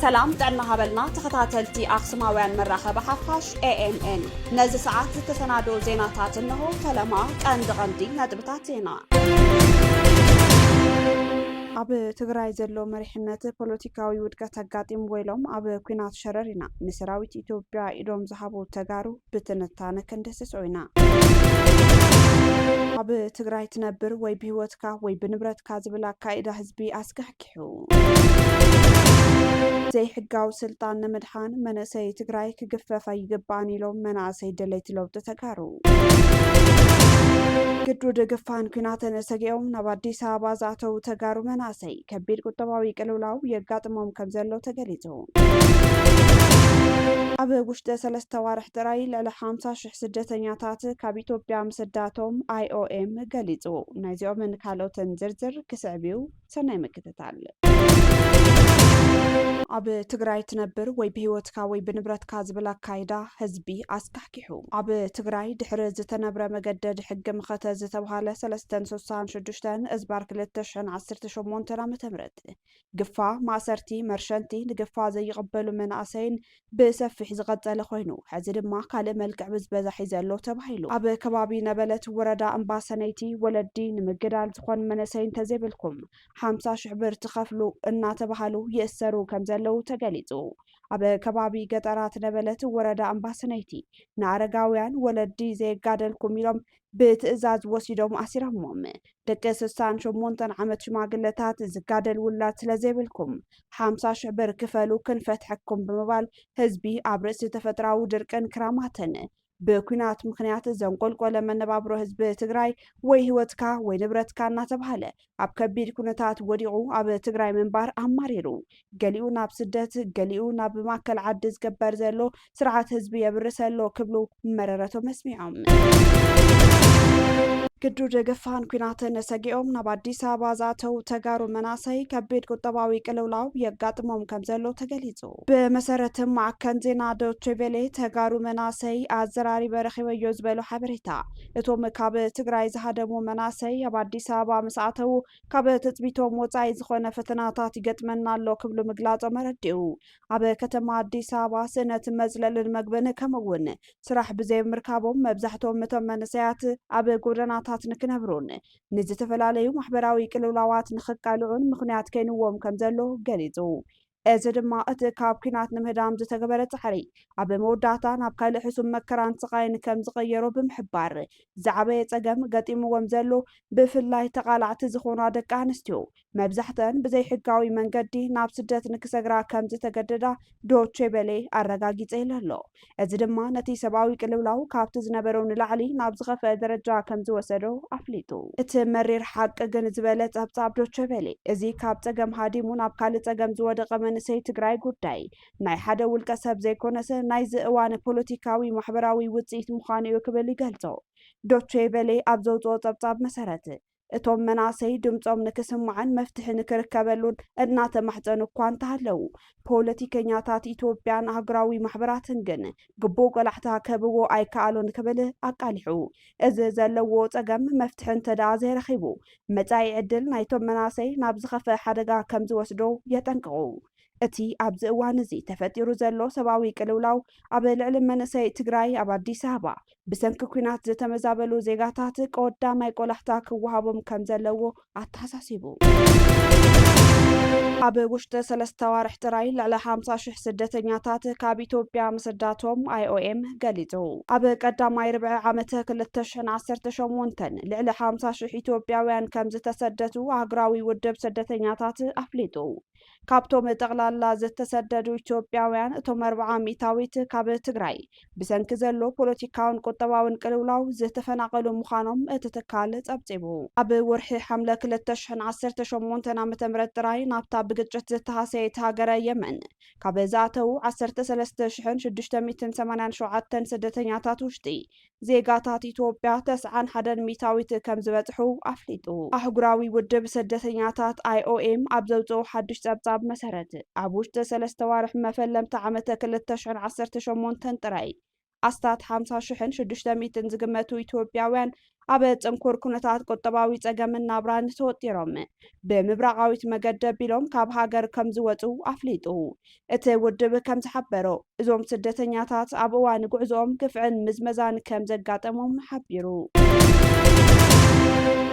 ሰላም ጥዕና ሃበልና ተኸታተልቲ ኣክሱማውያን መራኸቢ ሓፋሽ ኤኤምኤን ነዚ ሰዓት ዝተሰናደው ዜናታት እንሆ። ፈለማ ቀንዲ ቀንዲ ነጥብታት ዜና ኣብ ትግራይ ዘሎ መሪሕነት ፖለቲካዊ ውድቀት ኣጋጢምዎ ኢሎም ኣብ ኩናት ሸረር ኢና ንሰራዊት ኢትዮጵያ ኢዶም ዝሃቡ ተጋሩ ብትንታነ ክንድህስሶ ኢና። ኣብ ትግራይ ትነብር ወይ ብህይወትካ ወይ ብንብረትካ ዝብል ኣካይዳ ህዝቢ ኣስካሕኪሑ። ዘይሕጋዊ ስልጣን ንምድሓን መነእሰይ ትግራይ ክግፈፍ ኣይግባእን ኢሎም መናእሰይ ደለይቲ ለውጢ ተጋሩ። ግዱድ ግፋን ኩናትን ሰጊኦም ናብ ኣዲስ ኣበባ ዝኣተዉ ተጋሩ መናእሰይ ከቢድ ቁጠባዊ ቅልውላው የጋጥሞም ከምዘሎ ተገሊፁ። እዩ። ኣብ ውሽጢ ሰለስተ ኣዋርሕ ጥራይ ልዕሊ ሓምሳ ሽሕ ስደተኛታት ካብ ኢትዮጵያ ምስዳቶም IOM ገሊጹ። ናይዚኦምን ካልኦትን ዝርዝር ክስዕብ እዩ። ሰናይ ምክትታል። ኣብ ትግራይ ትነብር ወይ ብህይወትካ ወይ ብንብረትካ ዝብል ኣካይዳ ህዝቢ ኣስካሕኪሑ። ኣብ ትግራይ ድሕሪ ዝተነብረ መገደድ ሕጊ መኸተ ዝተብሃለ ሰለስተን ስሳን ሽዱሽተን እዝባር ክልተ ሽሕን ዓሰርተ ሸሞንተን ዓመተ ምህረት ግፋ፣ ማእሰርቲ፣ መርሸንቲ፣ ንግፋ ዘይቕበሉ መናእሰይን ብሰፊሕ ዝቐፀለ ኮይኑ ሐዚ ድማ ካልእ መልክዕ ብዝበዛ ሒዘ ኣሎ ተባሂሉ። ኣብ ከባቢ ነበለት ወረዳ እምባሰነይቲ ወለዲ ንምግዳል ዝኾን መነሰይ እንተዘይብልኩም ሓምሳ ሽሕ ብር ትኸፍሉ እናተባሃሉ ይእሰሩ ከምዘለው ተገሊፁ። ኣብ ከባቢ ገጠራት ነበለት ወረዳ እምባሰነይቲ ንኣረጋውያን ወለዲ ዘየጋደልኩም ኢሎም ብትእዛዝ ወሲዶም ኣሲሮሞም። ደቂ ስሳን ሸሞንተን ዓመት ሽማግለታት ዝጋደል ውላድ ስለ ዘይብልኩም ሓምሳ ሽሕ ብር ክፈሉ ክንፈትሐኩም ብምባል ህዝቢ ኣብ ርእሲ ተፈጥራዊ ድርቅን ክራማትን ብኲናት ምኽንያት ዘንቆልቆለ መነባብሮ ህዝቢ ትግራይ ወይ ህይወትካ ወይ ንብረትካ እናተብሃለ ኣብ ከቢድ ኩነታት ወዲቑ ኣብ ትግራይ ምንባር ኣማሪሩ ገሊኡ ናብ ስደት ገሊኡ ናብ ማእከል ዓዲ ዝገበር ዘሎ ስርዓት ህዝቢ የብርስ ኣሎ ክብሉ መረረቶም ኣስሚዖም። ግዱድ ግፋን ኩናትን ሰጊኦም ናብ ኣዲስ ኣበባ ዝኣተው ተጋሩ መናእሰይ ከቢድ ቁጠባዊ ቅልውላው የጋጥሞም ከም ዘሎ ተገሊጹ። ብመሰረት ማዕከን ዜና ዶቼ ቬሌ ተጋሩ መናእሰይ ኣዘራሪበ ረኺበዮ ዝበሎ ሓበሬታ እቶም ካብ ትግራይ ዝሃደሙ መናእሰይ ኣብ ኣዲስ ኣበባ ምስ ኣተዉ ካብ ትፅቢቶም ወፃኢ ዝኾነ ፈተናታት ይገጥመና ኣሎ ክብሉ ምግላፆም ኣረዲኡ። ኣብ ከተማ ኣዲስ ኣበባ ስእነት መፅለልን መግብን ከምኡ እውን ስራሕ ብዘይምርካቦም መብዛሕትኦም እቶም መንእሰያት ኣብ ጎደናታት ንክነብሩን ንዝተፈላለዩ ማሕበራዊ ቅልውላዋት ንክቃልዑን ምኽንያት ከይንዎም ከምዘሎ ገሊፁ። እዚ ድማ እቲ ካብ ኲናት ንምህዳም ዝተገበረ ጻዕሪ፣ ኣብ መወዳእታ ናብ ካልእ ሕሱም መከራን ስቓይን ከም ዝቐየሮ ብምሕባር፣ ዝዓበየ ጸገም ገጢምዎም ዘሎ ብፍላይ ተቓላዕቲ ዝኾና ደቂ ኣንስትዮ፣ መብዛሕትአን ብዘይሕጋዊ መንገዲ ናብ ስደት ንክሰግራ ከም ዝተገደዳ ዶቼ ቬለ ኣረጋጊጸ ኢሉ ኣሎ። እዚ ድማ ነቲ ሰብኣዊ ቅልውላው ካብቲ ዝነበሮ ንላዕሊ ናብ ዝኸፍአ ደረጃ ከም ዝወሰዶ ኣፍሊጡ። እቲ መሪር ሓቂ ግን ዝበለ ጸብጻብ ዶቸ ቬለ፣ እዚ ካብ ጸገም ሃዲሙ ናብ ካልእ ጸገም ዝወደቐ መንእሰይ ትግራይ ጉዳይ ናይ ሓደ ውልቀ ሰብ ዘይኮነሰ ናይዚ እዋን ፖለቲካዊ ማሕበራዊ ውጽኢት ምዃኑ'ዩ ክብል ይገልጾ። ዶቸ ቬለ ኣብ ዘውጽኦ ጸብጻብ መሰረት፣ እቶም መናእሰይ ድምፆም ንክስማዕን መፍትሒ ንክርከበሉን እናተማሕፀኑ እኳ እንተሃለው ፖለቲከኛታት ኢትዮጵያን ኣህጉራዊ ማሕበራትን ግን ግቡእ ቆላሕታ ክህብዎ ኣይከኣሉን ክብል ኣቃሊሑ። እዚ ዘለዎ ፀገም መፍትሒ እንተድኣ ዘይረኺቡ መፃኢ ዕድል ናይቶም መናእሰይ ናብ ዝኸፍአ ሓደጋ ከምዝወስዶ የጠንቅቑ። እቲ ኣብዚ እዋን እዚ ተፈጢሩ ዘሎ ሰብኣዊ ቅልውላው ኣብ ልዕሊ መንእሰይ ትግራይ ኣብ ኣዲስ ኣበባ ብሰንኪ ኲናት ዝተመዛበሉ ዜጋታት ቀወዳማይ ቆላሕታ ክወሃቦም ከም ዘለዎ ኣተሓሳሲቡ። ኣብ ውሽጢ ሰለስተ ኣዋርሕ ጥራይ ልዕሊ ሓምሳ ሽሕ ስደተኛታት ካብ ኢትዮጵያ ምስዳቶም ኣይኦኤም ገሊጹ። ኣብ ቀዳማይ ርብዒ ዓመተ ክልተ ሽሕን ዓሰርተ ሸሞንተን ልዕሊ ሓምሳ ሽሕ ኢትዮጵያውያን ከም ዝተሰደቱ ሃገራዊ ውድብ ስደተኛታት ኣፍሊጡ። ካብቶም ጠቕላላ ዝተሰደዱ ኢትዮጵያውያን እቶም ኣርብዓ ሚእታዊት ካብ ትግራይ ብሰንኪ ዘሎ ፖለቲካውን ቁጠባውን ቅልውላው ዝተፈናቐሉ ምዃኖም እቲ ትካል ጸብጺቡ። ኣብ ወርሒ ሓምለ ክልተ ሽሕን ዓሰርተ ሸሞንተን ዓመተ ምህረት ጥራይ ናብታ ብግጭት ዝተሃሰየት ሃገረ የመን ካብ ዝኣተዉ ዓሰርተ ሰለስተ ሽሕን ሽዱሽተ ሚእትን ሰማንያን ሸውዓተን ስደተኛታት ውሽጢ ዜጋታት ኢትዮጵያ ተስዓን ሓደን ሚእታዊት ከም ዝበጽሑ ኣፍሊጡ። ኣህጉራዊ ውድብ ስደተኛታት፣ ኣይኦኤም፣ ኣብ ዘውጽኦ ሓድሽ ጸብጻብ መሰረት፣ ኣብ ውሽጢ ሰለስተ ኣዋርሕ መፈለምታ ዓመተ ክልተ ሽሕን ዓሰርተ ሸሞንተን ጥራይ፣ ኣስታት ሓምሳ ሽሕን ሽዱሽተ ሚእትን ዝግመቱ ኢትዮጵያውያን ኣብ ጽንኩር ኩነታት ቁጠባዊ ጸገምን ናብራን ተወጢሮም፣ ብምብራቓዊት መገዲ ኣቢሎም ካብ ሃገር ከም ዝወጹ ኣፍሊጡ። እቲ ውድብ ከም ዝሓበሮ፣ እዞም ስደተኛታት ኣብ እዋን ጉዕዞኦም ግፍዕን ምዝመዛን ከም ዘጋጠሞም ሓቢሩ።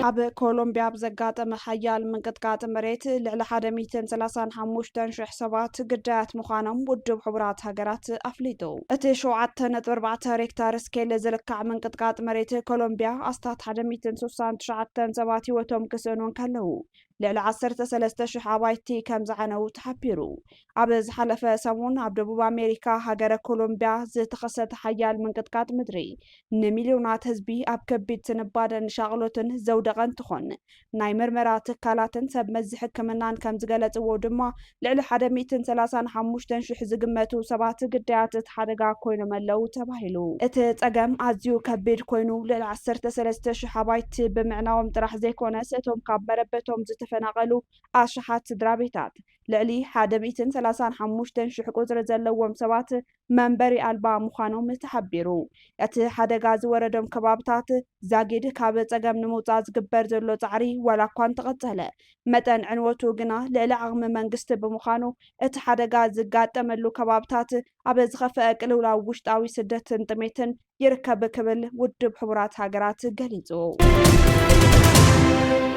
ኣብ ኮሎምብያ ኣብ ዘጋጠመ ሓያል ምንቅጥቃጥ መሬት ልዕሊ ሓደ ሚእትን ሰላሳን ሓሙሽተን ሽሕ ሰባት ግዳያት ምዃኖም ውድብ ሕቡራት ሃገራት ኣፍሊጡ። እቲ ሸውዓተ ነጥቢ ኣርባዕተ ሬክታር ስኬል ዝልካዕ ምንቅጥቃጥ መሬት ኮሎምብያ ኣስታት ሓደ ሚእትን ስሳን ትሽዓተን ሰባት ህይወቶም ክስእኑ እንከለዉ ልዕሊ ዓሰርተ ሰለስተ ሽሕ ኣባይቲ ከም ዝዓነዉ ተሓቢሩ። ኣብ ዝሓለፈ ሰሙን ኣብ ደቡብ ኣሜሪካ ሃገረ ኮሎምብያ ዝተኸሰተ ሓያል ምንቅጥቃጥ ምድሪ ንሚልዮናት ህዝቢ ኣብ ከቢድ ስንባደን ሻቕሎትን ዘውደቐ እንትኾን ናይ ምርመራ ትካላትን ሰብ መዚ ሕክምናን ከም ዝገለፅዎ ድማ ልዕሊ ሓደ ሚእትን ሰላሳን ሓሙሽተን ሽሕ ዝግመቱ ሰባት ግዳያት እቲ ሓደጋ ኮይኖም ኣለው ተባሂሉ። እቲ ፀገም ኣዝዩ ከቢድ ኮይኑ ልዕሊ ዓሰርተ ሰለስተ ሽሕ ኣባይቲ ብምዕናዎም ጥራሕ ዘይኮነስ እቶም ካብ መረበቶም ዝተፈናቐሉ ኣሽሓት ስድራቤታት ልዕሊ ሓደ ሚእትን ሰላሳን ሓሙሽተን ሽሕ ቁፅሪ ዘለዎም ሰባት መንበሪ ኣልባ ምዃኖም ተሓቢሩ። እቲ ሓደጋ ዝወረዶም ከባብታት ዛጊድ ካብ ፀገም ንምውፃእ ዝግበር ዘሎ ፃዕሪ ዋላ እኳ እንተቐፀለ መጠን ዕንወቱ ግና ልዕሊ ዓቕሚ መንግስቲ ብምዃኑ እቲ ሓደጋ ዝጋጠመሉ ከባብታት ኣብ ዝኸፈኣ ቅልውላው ውሽጣዊ ስደትን ጥሜትን ይርከብ ክብል ውድብ ሕቡራት ሃገራት ገሊጹ።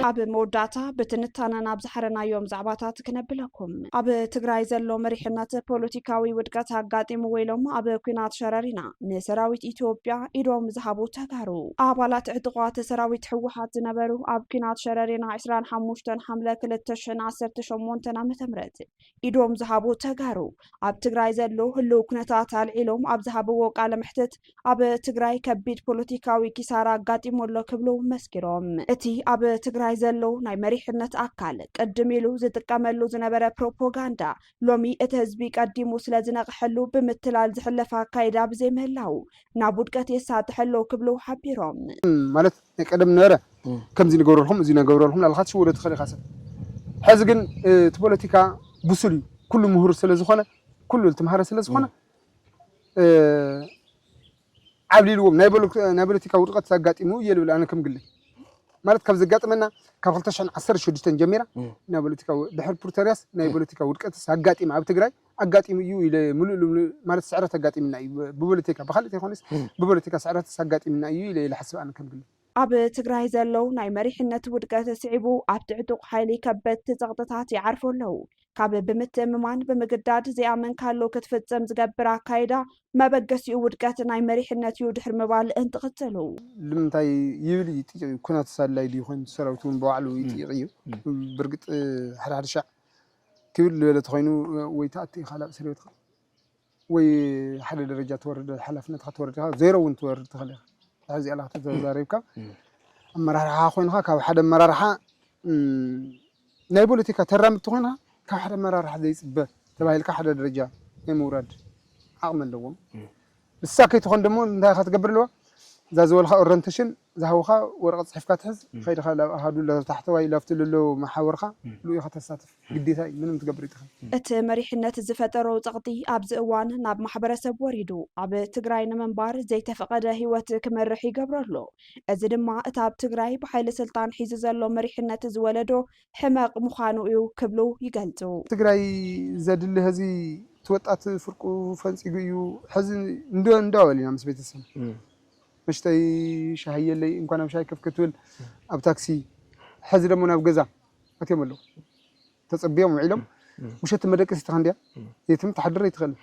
ኣብ መወዳእታ ብትንታነ ናብ ዝሓረናዮም ዛዕባታት ክነብለኩም ኣብ ትግራይ ዘሎ መሪሕነት ፖለቲካዊ ውድቀት ኣጋጢሙ ወይሎም ኣብ ኩናት ሸረሪና ንሰራዊት ኢትዮጵያ ኢዶም ዝሃቡ ተጋሩ ኣባላት ዕጥቋት ሰራዊት ህወሓት ዝነበሩ ኣብ ኩናት ሸረሪና 25 ሓምለ 2018 ዓ ም ኢዶም ዝሃቡ ተጋሩ ኣብ ትግራይ ዘሎ ህልው ኩነታት ኣልዒሎም ኣብ ዝሃብዎ ቃለ መሕትት ኣብ ትግራይ ከቢድ ፖለቲካዊ ኪሳራ ኣጋጢሙ ኣሎ ክብሉ መስኪሮም። እቲ ኣብ ትግራይ ዘሎ ናይ መሪሕነት ኣካል ቅድም ኢሉ ዝጥቀመሉ ዝነበረ ፕሮፖጋንዳ ሎሚ እቲ ህዝቢ ቀዲሙ ስለዝነቕሐሉ ብምትላል ዝሕለፍ ኣካይዳ ብዘይምህላዉ ናብ ውድቀት የሳጥሕ ኣሎ ክብሉ ሓቢሮም። ማለት ናይ ቀደም ነበረ ከምዚ ንገብረልኩም እዚ ንገብረልኩም እናበልካ ክትሽወዶ ትኽእል ኢኻ ሰብ ሕዚ ግን እቲ ፖለቲካ ብሱል እዩ ኩሉ ምሁር ስለ ዝኾነ ኩሉ ዝተምሃረ ስለ ዝኾነ ዓብሊልዎም ናይ ፖለቲካ ውድቀት ዘጋጢሙ እየ ልብል ኣነ ከም ግለይ ማለት ካብ ዘጋጥመና ካብ 2016 ጀሚራ ናይ ፖለቲካ ድሕሪ ፕሪቶሪያስ ናይ ፖለቲካ ውድቀትስ ኣጋጢመ ኣብ ትግራይ ኣጋጢሙ እዩ ኢለ ምሉእ ልምሉእ ማለት ስዕረት ኣጋጢምና እዩ ብቦለቲካ ብካልእ ተይኮነስ ብቦለቲካ ስዕረትስ ኣጋጢምና እዩ ኢለ ልሓስብ ኣነ ከም ግለይ። ኣብ ትግራይ ዘሎ ናይ መሪሕነት ውድቀት ስዒቡ ኣብቲ ዕጡቕ ሓይሊ ከበድቲ ጸቕጥታት ይዓርፉ ኣለዉ። ካብ ብምትእምማን ብምግዳድ ዘይኣመንካሉ ክትፍጽም ዝገብር ኣካይዳ መበገሲኡ ውድቀት ናይ መሪሕነት እዩ ድሕሪ ምባል እንትቕጽሉ። ልምንታይ ይብል ይጥይቕ እዩ ኩናትስ ኣድላይ ድዩ ኮይኑ ሰራዊትውን ብባዕሉ ይጥይቕ እዩ ብርግጽ ሓደ ሓደ ሻዕ ክብድ ልበለ ተኾይኑ ወይ ትኣቲ ኢኻ ናብ እስርቤትኻ ወይ ሓደ ደረጃ ትወርድ ሓላፍነትኻ ትወርድ ኢኻ ዜሮ እውን ትወርድ ትኽእል ኢኻ ድሕር ዚኣላ ከተዛሪብካ ኣመራርሓ ኮይንኻ ካብ ሓደ ኣመራርሓ ናይ ፖለቲካ ተራምድቲ ኮይንኻ ካብ ሓደ ኣመራርሓ ዘይፅበ ተባሂልካ ሓደ ደረጃ ናይ ምውራድ ዓቕሚ ኣለዎም ንሳ ከይትኾን ደሞ እንታይ ኢኻ ትገብር ኣለዋ እዛ ዝበልኻ ኦረንተሽን ዝሃቡኻ ወረቐት ጽሒፍካ ትሕዝ ከይድኻ ላብ ኣሃዱ ላብ ታሕተዋይ ላብቲ ለሎ መሓውርካ ሉኡ ኢኻ ተሳትፍ ግዴታ እዩ ምንም ትገብር ኣይትኽል። እቲ መሪሕነት ዝፈጠሮ ጸቕጢ ኣብዚ እዋን ናብ ማሕበረሰብ ወሪዱ ኣብ ትግራይ ንምንባር ዘይተፈቐደ ህይወት ክመርሕ ይገብሮ ኣሎ። እዚ ድማ እቲ ኣብ ትግራይ ብሓይሊ ስልጣን ሒዙ ዘሎ መሪሕነት ዝወለዶ ሕመቕ ምዃኑ እዩ ክብሉ ይገልፁ። ትግራይ ዘድሊ ሀዚ እቲ ወጣት ፍርቁ ፈንፂጉ እዩ ሐዚ እንዶ እንዶ በል ኢና ምስ ቤተሰብ መሽተይ ሻሂየለይ እንኳን ኣብ ሻሂ ከፍ ክትብል ኣብ ታክሲ ሐዚ ደሞ ናብ ገዛ ኣትዮም ኣለው ተፀብዮም ውዒሎም ውሸት መደቀሲትኻ እንድያ የትም ትሓድር ኣይትኽእልን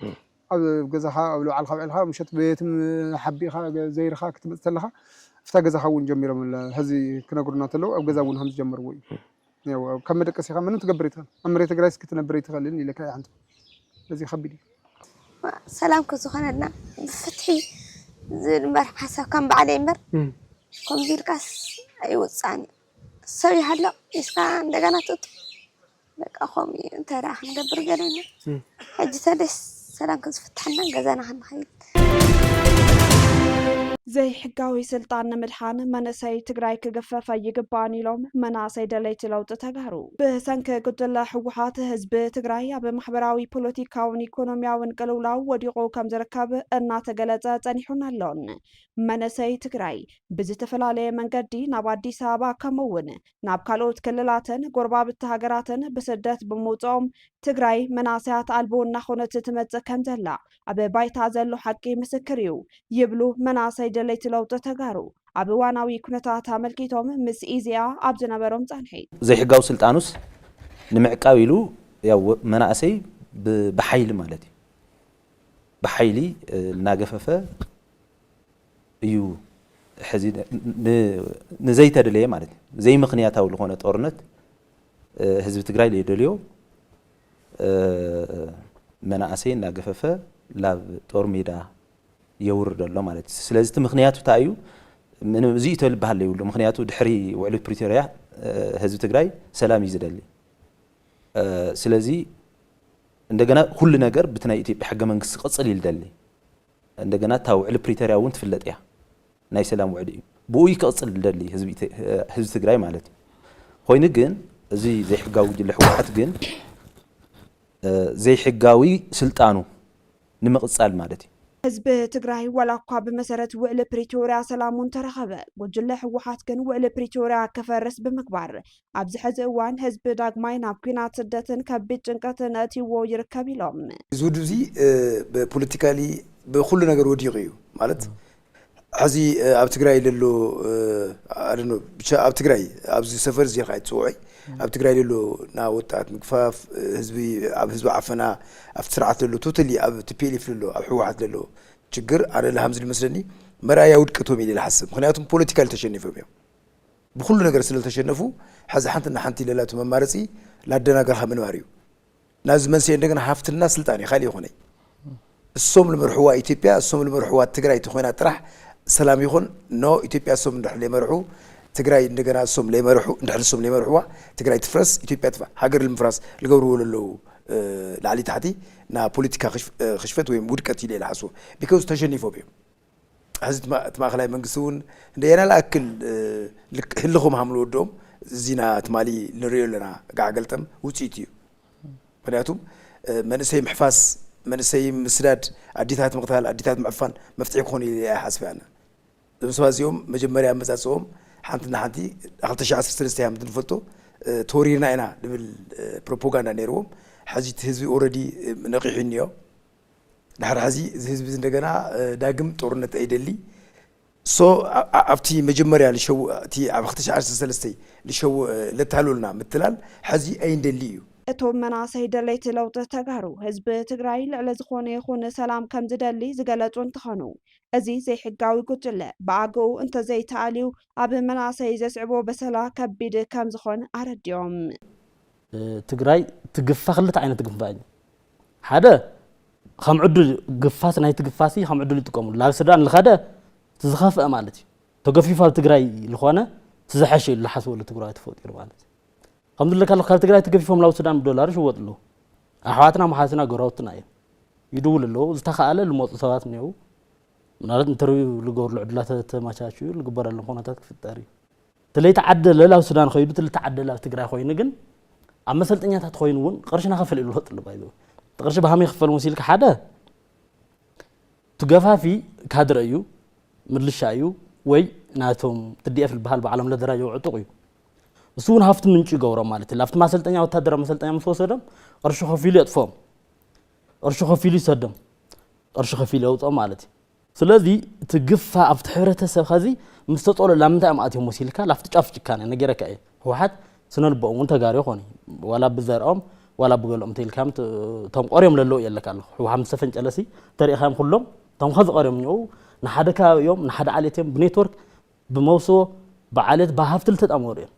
ኣብ ገዛኻ ኣብ ልባዕልካ ውዒልካ ምሸት በየትም ሓቢእኻ ዘይርኻ ክትመጽእ ተለኻ ኣብታ ገዛኻ እውን ጀሚሮም ሕዚ ክነግሩና ተለዉ ኣብ ገዛ እውን ከምዝጀመርዎ እዩ ያው ኣብ- ካብ መደቀሲ ኢኻ ምንም ትገብር ኣይትኽእል ኣብ መሬት ትግራይ እስኪ ክትነብር ኣይትኽእልን ኢለካ እየ ሓንቲ እዚ ከቢድ እዩ ሰላም ከዝኾነልና ብፍትሒ ዝብል እምበር ሓሳብ ከም ባዕለይ እምበር ከምዚ ኢልካስ ኣይውፃእን እዩ ሰብ ይሃሎ ኢስካ እንደገና ትእቱ በቃ ከምኡ እዩ እንታይ ደኣ ክንገብር ገደና ሕጂ ሰደስ ሰላም ከዝፍትሐና ገዛና ክንኸይድ ዘይሕጋዊ ስልጣን ንምድሓን መንእሰይ ትግራይ ክግፈፍ ኣይግባእን ኢሎም መናእሰይ ደለይቲ ለውጢ ተጋሩ ብሰንኪ ጉጅለ ህወሓት ህዝቢ ትግራይ ኣብ ማሕበራዊ ፖለቲካውን ኢኮኖሚያውን ቅልውላው ወዲቑ ከም ዝርከብ እናተገለጸ ጸኒሑን ኣሎን። መንእሰይ ትግራይ ብዝተፈላለየ መንገዲ ናብ ኣዲስ ኣበባ ከምኡውን ናብ ካልኦት ክልላትን ጎረባብቲ ሃገራትን ብስደት ብምውፅኦም ትግራይ መናእሰያት ኣልቦ እናኾነት ትመፅእ ከምዘላ ኣብ ባይታ ዘሎ ሓቂ ምስክር እዩ ይብሉ መናእሰይ ደለይቲ ለውጢ ተጋሩ ኣብ እዋናዊ ኩነታት ኣመልኪቶም ምስ ኢዜኣ ኣብ ዝነበሮም ፃንሒት። ዘይሕጋዊ ስልጣኑስ ንምዕቃብ ኢሉ ያው መናእሰይ ብሓይሊ ማለት እዩ ብሓይሊ እናገፈፈ እዩ ሕዚ ንዘይተደለየ ማለት እዩ ዘይምክንያታዊ ዝኾነ ጦርነት ህዝቢ ትግራይ ዘይደልዮ መናእሰይ እናገፈፈ ላብ ጦር ሜዳ የውርድ ኣሎ ማለት እዩ ስለዚ እቲ ምክንያቱ እንታይ እዩ ምንም እዚኡ ተልበሃል ዘይብሉ ምክንያቱ ድሕሪ ውዕሊ ፕሪቶርያ ህዝቢ ትግራይ ሰላም እዩ ዝደሊ ስለዚ እንደገና ኩሉ ነገር ብቲ ናይ ኢትዮጵያ ሕገ መንግስቲ ክቕፅል እዩ ዝደሊ እንደገና እታ ውዕሊ ፕሪተርያ እውን ትፍለጥ እያ ናይ ሰላም ውዕሊ እዩ ብኡ እዩ ክቕፅል ዝደሊ ህዝቢ ትግራይ ማለት እዩ ኾይኑ ግን እዚ ዘይሕጋዊ ጉጅለ ህወሓት ግን ዘይሕጋዊ ስልጣኑ ንምቕፃል ማለት እዩ ህዝቢ ትግራይ ዋላ እኳ ብመሰረት ውዕሊ ፕሪቶርያ ሰላሙ እንተረኸበ ጉጅለ ህወሓት ግን ውዕሊ ፕሪቶርያ ክፈርስ ብምግባር ኣብዚ ሕዚ እዋን ህዝቢ ዳግማይ ናብ ኲናት፣ ስደትን ከቢድ ጭንቀትን ኣእትይዎ ይርከብ ኢሎም። እዚ ውድብ እዚ ብፖለቲካሊ ብኹሉ ነገር ወዲቑ እዩ ማለት ሕዚ ኣብ ትግራይ ለሎ ኣደኖ ብቻ ኣብ ትግራይ ኣብዚ ሰፈር እዚ ኢልካ ኣይትፅውዖይ ኣብ ትግራይ ለሎ ና ወጣት ምግፋፍ ህዝቢ ኣብ ህዝቢ ዓፈና ኣብቲ ስርዓት ለሎ ቶተሊ ኣብ ቲፒኤልኤፍ ለሎ ኣብ ሕወሓት ለሎ ችግር ኣነ ልሃምዚ ልመስለኒ መርኣያ ውድቀቶም ኢለ ልሓስብ ምክንያቱም ፖለቲካሊ ተሸኒፎም እዮም ብኹሉ ነገር ስለ ዝተሸነፉ ሕዚ ሓንቲ እና ሓንቲ ለላ እቲ መማረፂ ላደናገርኻ ምንባር እዩ ናዚ መንሰይ እንደገና ሃፍትልና ስልጣን እዩ ካልእ ይኾነይ እሶም ልመርሕዋ ኢትዮጵያ እሶም ልመርሕዋ ትግራይ ተኾይና ጥራሕ ሰላም ይኹን ኖ ኢትዮጵያ እሶም እንድሕር ለይመርሑ ትግራይ እንደገና እሶም ለይመርሑ እንድሕር እሶም ለይመርሕዋ ትግራይ ትፍረስ ኢትዮጵያ ትፋ ሃገር ልምፍራስ ልገብርዎ ለለዉ ላዕሊ ታሕቲ ና ፖለቲካ ክሽፈት ወይም ውድቀት ኢለ ልሓስቦ ቢካዝ ተሸኒፎም እዮም ሐዚ እቲ ማእኸላይ መንግስቲ እውን ንየናይ ልኣክል ህልኽ ምሃም ልወድኦም እዚና ትማሊ ንሪኦ ኣለና ጋዕ ገልጠም ውፅኢቱ እዩ። ምክንያቱም መንእሰይ ምሕፋስ መንእሰይ ምስዳድ ኣዲታት ምቕታል ኣዲታት ምዕፋን መፍትሒ ክኾኑ ኢለ ኣይሓስበ ኣነ እዞም ሰባት እዚኦም መጀመርያ ኣመፃፅኦም ሓንቲ ንሓንቲ ክልተ ሽሕ ዓሰርተ ሰለስተ ከምቲ ንፈልጦ ተወሪርና ኢና ዝብል ፕሮፓጋንዳ ነይርዎም። ሕዚ እቲ ህዝቢ ኦልሬዲ ነቒሑ እኒኦ። ድሕሪ ሕዚ እዚ ህዝቢ እንደገና ዳግም ጦርነት ኣይደሊ ሶ ኣብቲ መጀመርያ ልሸው እቲ ኣብ ክተሽ ዓርሰ ሰለስተይ ልሸው ለታሉልና ምትላል ሕዚ ኣይንደሊ እዩ። እቶም መናእሰይ ደለይቲ ለውጢ ተጋሩ ህዝቢ ትግራይ ልዕሊ ዝኾነ ይኹን ሰላም ከምዝደሊ ዝገለፁ እንትኾኑ እዚ ዘይሕጋዊ ጉጅለ ብኣግኡ እንተዘይተኣልዩ ኣብ መናእሰይ ዘስዕቦ በሰላ ከቢድ ከምዝኾን ኣረዲኦም። ትግራይ ትግፋ ክልተ ዓይነት ግንፋ እዩ ሓደ ከም ዕዱል ግፋስ ናይ ትግፋሲ ከም ዕዱል ይጥቀሙሉ ናብ ሱዳን ልኸደ ዝኸፍአ ማለት እዩ ተገፊፉ ኣብ ትግራይ ዝኾነ ዝሐሸ እዩ ዝሓስበሉ ትግራይ ተፈጢሩ ማለት እዩ ከም ዝለካ ካብ ትግራይ ተገፊፎም ናብ ሱዳን ብዶላር ይሽወጡ ኣለዉ ኣሕዋትና መሓዝና ጎረባብትና እዮም ይድውሉ ኣለዉ ዝተኸኣለ ዝመፁ ሰባት እኒው ምናልባት ኢንተርቪው ዝገብርሉ ዕድላት ተመቻችኡ ዝግበረሎም ኩነታት ክፍጠር እዩ ተለይተዓደለ ላብ ሱዳን ኸይዱ ተለይተዓደለ ላብ ትግራይ ኾይኑ ግን ኣብ መሰልጠኛታት ኾይኑ እውን ቅርሺ ናኸፈለ ይብሉ ፈጥሉ ባይዘ እቲ ቅርሺ ብሃመይ ክፈል መሲልካ ሓደ ትገፋፊ ካድረ እዩ ምልሻ እዩ ወይ ናቶም ትዲኤፍ ዝበሃል ባዕሎም ለደራጀው ዕጡቕ እዩ እሱ እውን ሃፍቲ ምንጭ ይገብሮም ማለት እዩ ኣብቲ ማሰልጠኛ ወታደራዊ መሰልጠኛ ምስ ወሰዶም ቅርሺ ከፊሉ የጥፎም ቅርሺ ከፊሉ ይሰዶም ቅርሺ ከፊሉ የውፅኦም ማለት እዩ ስለዚ እቲ ግፋ ኣብቲ ሕብረተሰብ ኸዚ ምስ ተጸሎ ላምንታይ እዮም ኣትዮም ወሲልካ ላፍቲ ጫፍ ጭካነ ነጊረካ እየ ህውሓት ስነልቦኦም እውን ተጋሩ ይኾኑ ዋላ ብዘርኦም ዋላ ብገለኦም ተይልካዮም እቶም ቆርዮም ለለዉ እየ ኣለካ ኣለኹ ህውሓት ምስ ተፈንጨለሲ ተሪእኻዮም ኩሎም እቶም ኸዚ ቀርዮም እኒኦው ንሓደ ከባቢ እዮም ንሓደ ዓሌት እዮም ብኔትወርክ ብመውስቦ ብዓሌት ብሃፍቲ ልተጣመሩ እዮም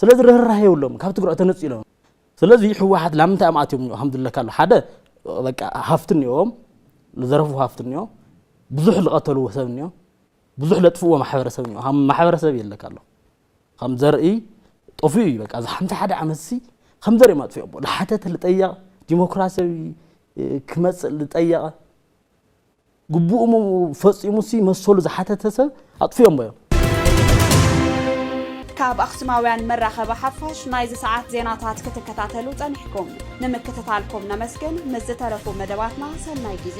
ስለዚ ርህራሄ የብሎምን ካብ ትግራይ ተነፂሎም ስለዚ ህወሓት ላምንታይ እዮም ኣትዮም እኒኦ ከም ዝብለካ ኣሎ ሓደ በቃ ሃፍቲ እኒኦም ዝዘረፍዎ ሃፍቲ እኒኦ ብዙሕ ዝቐተልዎ ሰብ እኒኦ ብዙሕ ለጥፍዎ ማሕበረሰብ እኒኦ ከም ማሕበረሰብ የለካ ኣሎ ከም ዘርኢ ጠፍኡ እዩ በቃ እዚ ሓምሳ ሓደ ዓመት ሲ ከም ዘርኢ ማጥፍኦሞ ዝሓተተ ዝጠየቐ ዲሞክራሲያዊ ክመፅእ ዝጠየቐ ግቡኡ ፈፂሙሲ መሰሉ ዝሓተተ ሰብ ኣጥፊኦሞ እዮም። ካብ ኣኽሱማውያን መራኸቢ ሓፋሽ ናይዚ ሰዓት ዜናታት ክትከታተሉ ጸኒሕኩም ንምክትታልኩም ነመስግን። ምስ ዝተረፉ መደባትና ሰናይ ግዜ